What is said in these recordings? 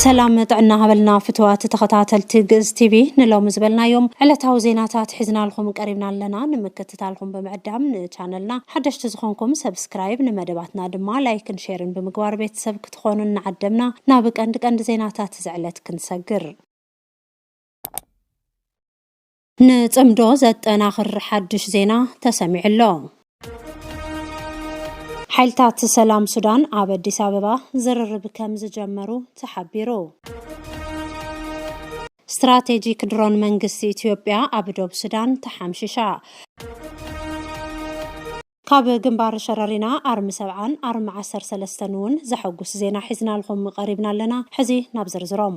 ሰላም ጥዕና ሃበልና ፍትዋት ተኸታተልቲ ግእዝ ቲቪ ንሎሚ ዝበልናዮም ዕለታዊ ዜናታት ሒዝናልኹም ቀሪብና ኣለና ንምክትታልኹም ብምዕዳም ንቻነልና ሓደሽቲ ዝኾንኩም ሰብስክራይብ ንመደባትና ድማ ላይክን ሼርን ብምግባር ቤተሰብ ክትኾኑ እናዓደምና ናብ ቀንዲ ቀንዲ ዜናታት ዝዕለት ክንሰግር ንጽምዶ ዘጠናኽር ሓድሽ ዜና ተሰሚዑ ኣሎ። ሓይልታት ሰላም ሱዳን ኣብ ኣዲስ ኣበባ ዝርርብ ከም ዝጀመሩ ተሓቢሩ። ስትራቴጂክ ድሮን መንግስቲ ኢትዮጵያ ኣብ ዶብ ሱዳን ተሓምሽሻ። ካብ ግንባር ሸረሪና ኣርሚ ሰብዓን ኣርሚ ዓሰርተ ሰለስተን እውን ዘሐጉስ ዜና ሒዝናልኹም ቀሪብና ኣለና። ሕዚ ናብ ዝርዝሮም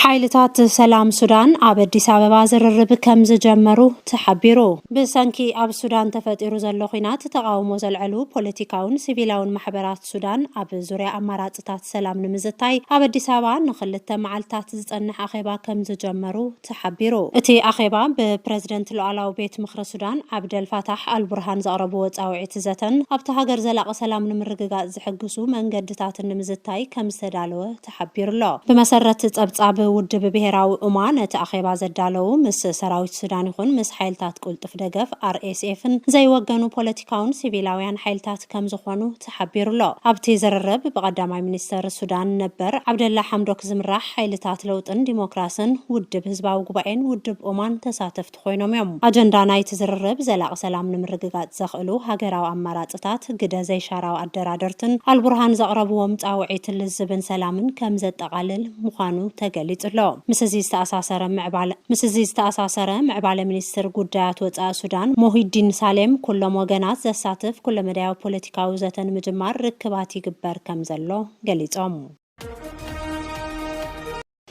ሓይልታት ሰላም ሱዳን ኣብ ኣዲስ ኣበባ ዝርርብ ከም ዝጀመሩ ተሓቢሩ። ብሰንኪ ኣብ ሱዳን ተፈጢሩ ዘሎ ኹናት ተቓውሞ ዘልዐሉ ፖለቲካውን ሲቪላውን ማሕበራት ሱዳን ኣብ ዙርያ ኣማራፅታት ሰላም ንምዝታይ ኣብ ኣዲስ ኣበባ ንኽልተ መዓልታት ዝፀንሕ ኣኼባ ከም ዝጀመሩ ተሓቢሩ። እቲ ኣኼባ ብፕረዚደንት ሉኣላዊ ቤት ምኽሪ ሱዳን ዓብደል ፋታሕ ኣልቡርሃን ዘቕረብዎ ፃውዒት ዘተን ኣብታ ሃገር ዘላቒ ሰላም ንምርግጋፅ ዝሕግሱ መንገድታትን ንምዝታይ ከም ዝተዳለወ ሓቢሩ'ሎ። ብመሰረት ጸብጻብ ውድብ ብሄራዊ ኡማ፣ ነቲ ኣኼባ ዘዳለዉ ምስ ሰራዊት ሱዳን ይኹን ምስ ሓይልታት ቅልጡፍ ደገፍ፣ RSF፣ ን ዘይወገኑ ፖለቲካውን ሲቪላውያን ሓይልታት ከምዝኾኑ ተሓቢሩ'ሎ። ኣብቲ ዝርርብ፣ ብቀዳማይ ሚኒስተር ሱዳን ነበር ዓብደላ ሓምዶክ ዝምራሕ ሓይልታት ለውጥን ዲሞክራስን፣ ውድብ ህዝባዊ ጉባኤን ውድብ ኡማን ተሳተፍቲ ኮይኖም እዮም። ኣጀንዳ ናይቲ ዝርርብ ዘላቒ ሰላም ንምርግጋፅ ዘኽእሉ ሃገራዊ ኣማራፅታት ግደ ዘይሻራዊ ኣደራደርትን ኣልቡርሃን ዘቕረብዎም ፃውዒት ልዝብን ሰላምን ከምዘጠቓልል ምዃኑ ተገሊፁ ኣሎ። ምስ እዚ ዝተኣሳሰረ ምዕባለ ምስ እዚ ዝተኣሳሰረ ምዕባለ ሚኒስትር ጉዳያት ወፃኢ ሱዳን ሞሂዲን ሳሌም ኩሎም ወገናት ዘሳትፍ ኩለመዳያዊ ፖለቲካዊ ዘተ ንምጅማር ርክባት ይግበር ከምዘሎ ገሊፆም።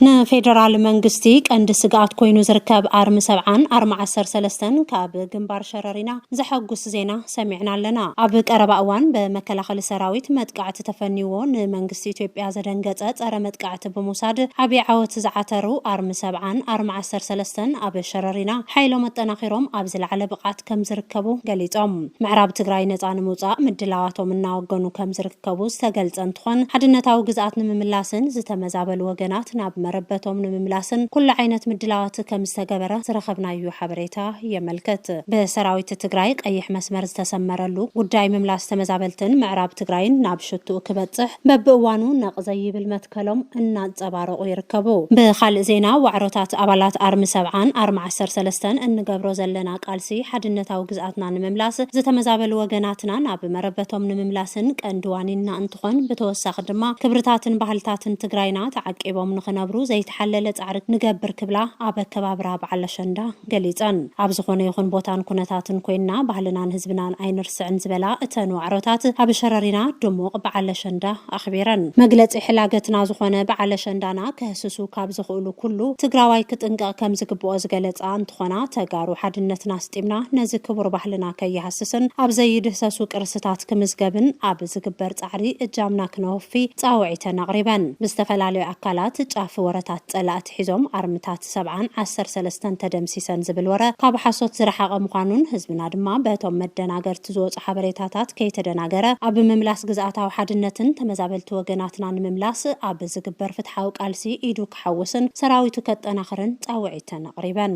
ንፌደራል መንግስቲ ቀንዲ ስግኣት ኮይኑ ዝርከብ ኣርሚ ሰብዓን ኣርሚ ዓሰርተ ሰለስተን ካብ ግንባር ሸረሪና ዘሐጉስ ዜና ሰሚዕና ኣለና። ኣብ ቀረባ እዋን ብመከላኸሊ ሰራዊት መጥቃዕቲ ተፈንይዎ ንመንግስቲ ኢትዮጵያ ዘደንገፀ ፀረ መጥቃዕቲ ብምውሳድ ዓብዪ ዓወት ዝዓተሩ ኣርሚ ሰብዓን ኣርሚ ዓሰርተ ሰለስተን ኣብ ሸረሪና ሓይሎም ኣጠናኺሮም ኣብ ዝለዓለ ብቕዓት ከምዝርከቡ ገሊፆም። ምዕራብ ትግራይ ነፃ ንምውፃእ ምድላዋቶም እናወገኑ ከምዝርከቡ ከብኡ ዝተገልጸ እንትኾን፣ ሓድነታዊ ግዝኣት ንምምላስን ዝተመዛበሉ ወገናት ናብ መረበቶም ንምምላስን ኩሉ ዓይነት ምድላዋት ከምዝተገበረ ዝረኸብናዩ ሓበሬታ የመልክት። ብሰራዊት ትግራይ ቀይሕ መስመር ዝተሰመረሉ ጉዳይ ምምላስ ተመዛበልትን ምዕራብ ትግራይን ናብ ሽትኡ ክበጽሕ በብእዋኑ ነቕ ዘይብል መትከሎም እናንጸባረቑ ይርከቡ። ብኻልእ ዜና ዋዕሮታት ኣባላት ኣርሚ ሰብዓን ኣርሚ ዓሰርተ ሰለስተን እንገብሮ ዘለና ቃልሲ ሓድነታዊ ግዝኣትና ንምምላስ ዝተመዛበሉ ወገናትና ናብ መረበቶም ንምምላስን ቀንዲ ዋኒንና እንትኾን ብተወሳኺ ድማ ክብርታትን ባህልታትን ትግራይና ተዓቂቦም ንኽነብሩ ዘይተሓለለ ፃዕሪ ንገብር ክብላ ኣብ ኣከባብራ በዓል ኣሸንዳ ገሊፀን። ኣብ ዝኾነ ይኹን ቦታን ኩነታትን ኮይንና ባህልናን ህዝብናን ኣይንርስዕን ዝበላ እተን ዋዕሮታት ኣብ ሸረሪና ድሙቕ በዓል ኣሸንዳ ኣኽቢረን። መግለፂ ሕላገትና ዝኾነ በዓል ኣሸንዳና ከህስሱ ካብ ዝኽእሉ ኩሉ ትግራዋይ ክጥንቀቕ ከምዝግብኦ ዝገለፃ እንትኾና፣ ተጋሩ ሓድነትና ኣስጢምና ነዚ ክቡር ባህልና ከይሃስስን ኣብ ዘይድህሰሱ ቅርስታት ክምዝገብን ኣብ ዝግበር ፃዕሪ እጃምና ክነወፊ ፃውዒተን ኣቕሪበን። ብዝተፈላለዩ ኣካላት ጫፍ ወረታት ፀላእቲ ሒዞም ኣርምታት ሰብዓን ዓሰርተ ሰለስተን ተደምሲሰን ዝብል ወረ ካብ ሓሶት ዝረሓቐ ምዃኑን ህዝብና ድማ በቶም መደናገርቲ ዝወፅኣ ዝወጸ ሓበሬታታት ከይተደናገረ ኣብ ምምላስ ግዝኣታዊ ሓድነትን ተመዛበልቲ ወገናትና ንምምላስ ኣብ ዝግበር ፍትሓዊ ቃልሲ ኢዱ ክሓውስን ሰራዊቱ ከጠናኽርን ጻውዒተን ኣቕሪበን።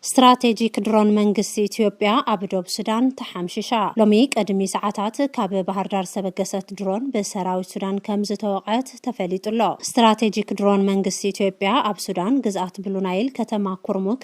ስትራቴጂክ ድሮን መንግስቲ ኢትዮጵያ ኣብ ዶብ ሱዳን ተሓምሺሻ። ሎሚ ቅድሚ ሰዓታት ካብ ባህርዳር ዝተበገሰት ድሮን ብሰራዊት ሱዳን ከም ዝተወቕዐት ተፈሊጡ ኣሎ። ስትራቴጂክ ድሮን መንግስቲ ኢትዮጵያ ኣብ ሱዳን ግዝኣት ብሉናይል ከተማ ኩርሙክ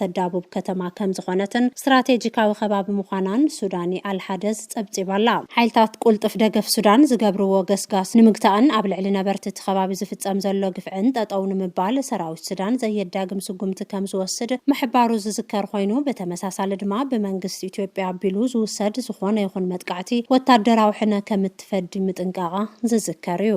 ተዳቡብ ከተማ ከምዝኾነትን ስትራቴጂካዊ ከባቢ ምዃናን ሱዳኒ ኣልሓደዝ ፀብፂባ'ላ። ሓይልታት ቁልጡፍ ደገፍ ሱዳን ዝገብርዎ ገስጋስ ንምግታእን ኣብ ልዕሊ ነበርቲ እቲ ከባቢ ዝፍፀም ዘሎ ግፍዕን ጠጠው ንምባል ሰራዊት ሱዳን ዘየዳግም ስጉምቲ ከምዝወስድ ምሕባሩ ዝዝከር ኾይኑ ብተመሳሳሊ ድማ ብመንግስቲ ኢትዮጵያ ኣቢሉ ዝውሰድ ዝኾነ ይኹን መጥቃዕቲ ወታደራዊ ሕነ ከምትፈዲ ምጥንቃቓ ዝዝከር እዩ።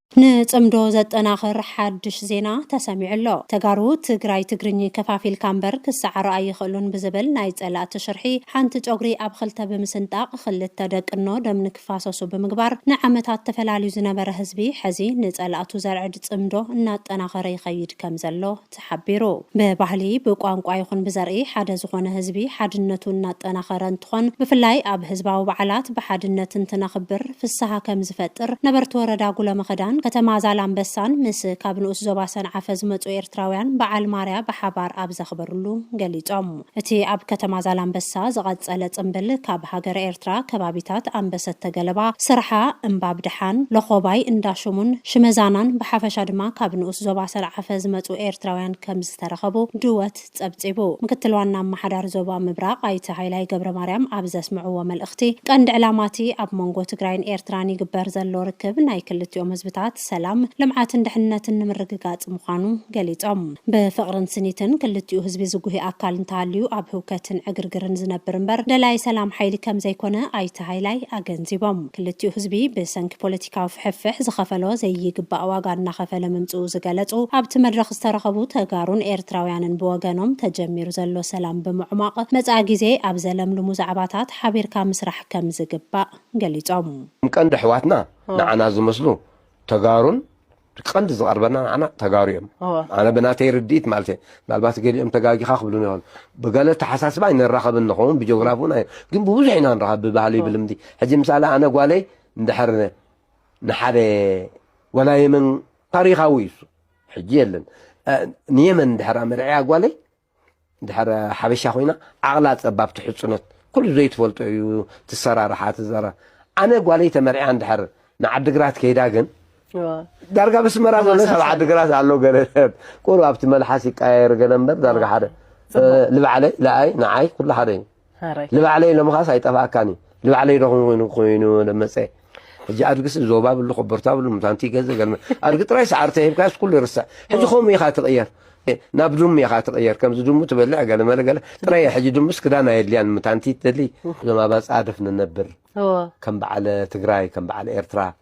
ንፅምዶ ዘጠናኽር ሓዱሽ ዜና ተሰሚዑ ኣሎ። ተጋሩ ትግራይ ትግርኚ ከፋፊልካ እምበር ክሰዓሩ ኣይኽእሉን ብዝብል ናይ ፀላእቲ ሽርሒ ሓንቲ ጨጉሪ ኣብ ኽልተ ብምስንጣቕ ኽልተ ደቅኖ ደም ንክፋሰሱ ብምግባር ንዓመታት ተፈላልዩ ዝነበረ ህዝቢ ሐዚ ንፀላእቱ ዘርዕድ ፅምዶ እናጠናኸረ ይኸይድ ከምዘሎ ተሓቢሩ። ብባህሊ፣ ብቋንቋ ይኹን ብዘርኢ ሓደ ዝኾነ ህዝቢ ሓድነቱ እናጠናኸረ እንትኾን ብፍላይ ኣብ ህዝባዊ በዓላት ብሓድነት እንትነኽብር ፍስሃ ከምዝፈጥር ነበርቲ ወረዳ ጉሎመኸዳን ከተማ ዛላምበሳን ምስ ካብ ንኡስ ዞባ ሰንዓፈ ዝመፁ ኤርትራውያን በዓል ማርያ ብሓባር ኣብ ዘኽበርሉ ገሊፆም። እቲ ኣብ ከተማ ዛላምበሳ ዝቐጸለ ጽምብል ካብ ሃገረ ኤርትራ ከባቢታት ኣምበሰተ ገለባ፣ ስርሓ፣ እምባብደሓን፣ ሎኾባይ፣ እንዳሽሙን፣ ሽመዛናን ብሓፈሻ ድማ ካብ ንኡስ ዞባ ሰንዓፈ ዝመጹ ኤርትራውያን ከምዝተረኸቡ ድወት ጸብጺቡ። ምክትል ዋና ኣማሓዳሪ ዞባ ምብራቕ ኣይተ ሃይላይ ገብረማርያም ኣብ ዘስምዕዎ መልእኽቲ፣ ቀንዲ ዕላማ'ቲ ኣብ መንጎ ትግራይን ኤርትራን ይግበር ዘሎ ርክብ ናይ ክልቲኦም ህዝብታት ሰላም፣ ልምዓትን ድሕንነትን ንምርግጋፅ ምዃኑ ገሊፆም። ብፍቕርን ስኒትን ክልቲኡ ህዝቢ ዝጉሂ ኣካል እንተሃልዩ ኣብ ህውከትን ዕግርግርን ዝነብር እምበር ደላዪ ሰላም ሓይሊ ከምዘይኮነ ኣይተ ሃይላይ ኣገንዚቦም። ክልቲኡ ህዝቢ ብሰንኪ ፖለቲካዊ ፍሕፍሕ ዝኸፈሎ ዘይይግባእ ዋጋ እናኸፈለ ምምፅኡ ዝገለፁ ኣብቲ መድረኽ ዝተረኸቡ ተጋሩን ኤርትራውያንን ብወገኖም ተጀሚሩ ዘሎ ሰላም ብምዕሟቕ መፃኢ ጊዜ ኣብ ዘለምልሙ ዛዕባታት ሓቢርካ ምስራሕ ከምዝግባእ ገሊፆም። እም ቀንዲ ኣሕዋትና ንዓና ዝመስሉ ተጋሩን ቀንዲ ዝቐርበና ንዓና ተጋሩ እዮም ኣነ ብናተይ ርድኢት ማለት እየ ምናልባት ገሊኦም ተጋጊኻ ክብሉ ይኹን ብገለ ተሓሳስባ ኣይንራኸብን ንኸውን ብጂኦግራፊ እውን ግን ብብዙሕ ኢና ንራኸብ ብባህሊ ብልምዲ ሕጂ ምሳሌ ኣነ ጓለይ እንድሕር ንሓደ ወላ የመን ታሪኻዊ እዩ ሕጂ የለን ንየመን እንድሕር ኣመርዕያ ጓለይ ድሕር ሓበሻ ኮይና ዓቕላ ጸባብ ትሕጽኖት ኩሉ ዘይትፈልጦ እዩ ትሰራርሓ ትዘራ ኣነ ጓለይ ተመርዕያ እንድሕር ንዓድግራት ከይዳ ግን ዳርጋ ብስመራ ዘሎ ሰብ ዓድግራት ኣሎ ገለ ቁሩብ ኣብቲ መልሓስ ይቀያየር ገለ እምበር ዳርጋ ሓደ ልባዕለይ ለኣይ ንዓይ ኩሉ ሓደ እዩ ንባዕለይ ሎምኻስ ኣይጠፋኣካን እዩ ንባዕለይ ዶኹም ኮይኑ ኮይኑ ለመፀ ሕጂ ኣድግስ ዞባ ብሉ ኮበርታ ብሉ ምታንቲ ገዘ ገልመ ኣድጊ ጥራይ ሰዓርተ ሂብካስ ኩሉ ይርሳዕ ሕጂ ከምኡ ኢኻ ትቕየር ናብ ድሙ ኢኻ ትቕየር ከምዚ ድሙ ትበልዕ ገለ መለ ገለ ጥራይ ሕጂ ድሙስ ክዳን ኣየድልያን ምታንቲ ትደሊ እዞም ኣባፃ ደፍ ንነብር ከም በዓል ትግራይ ከም በዓል ኤርትራ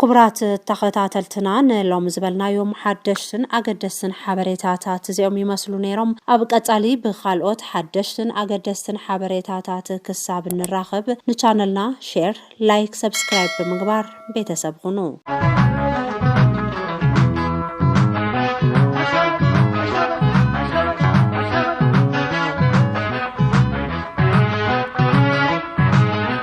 ኩቡራት ተኸታተልትና ንሎሚ ዝበልናዮም ሓደሽትን ኣገደስትን ሓበሬታታት እዚኦም ይመስሉ ነይሮም። ኣብ ቀጻሊ ብኻልኦት ሓደሽትን ኣገደስትን ሓበሬታታት ክሳብ እንራኸብ ንቻነልና ሼር፣ ላይክ፣ ሰብስክራይብ ብምግባር ቤተሰብ ኹኑ።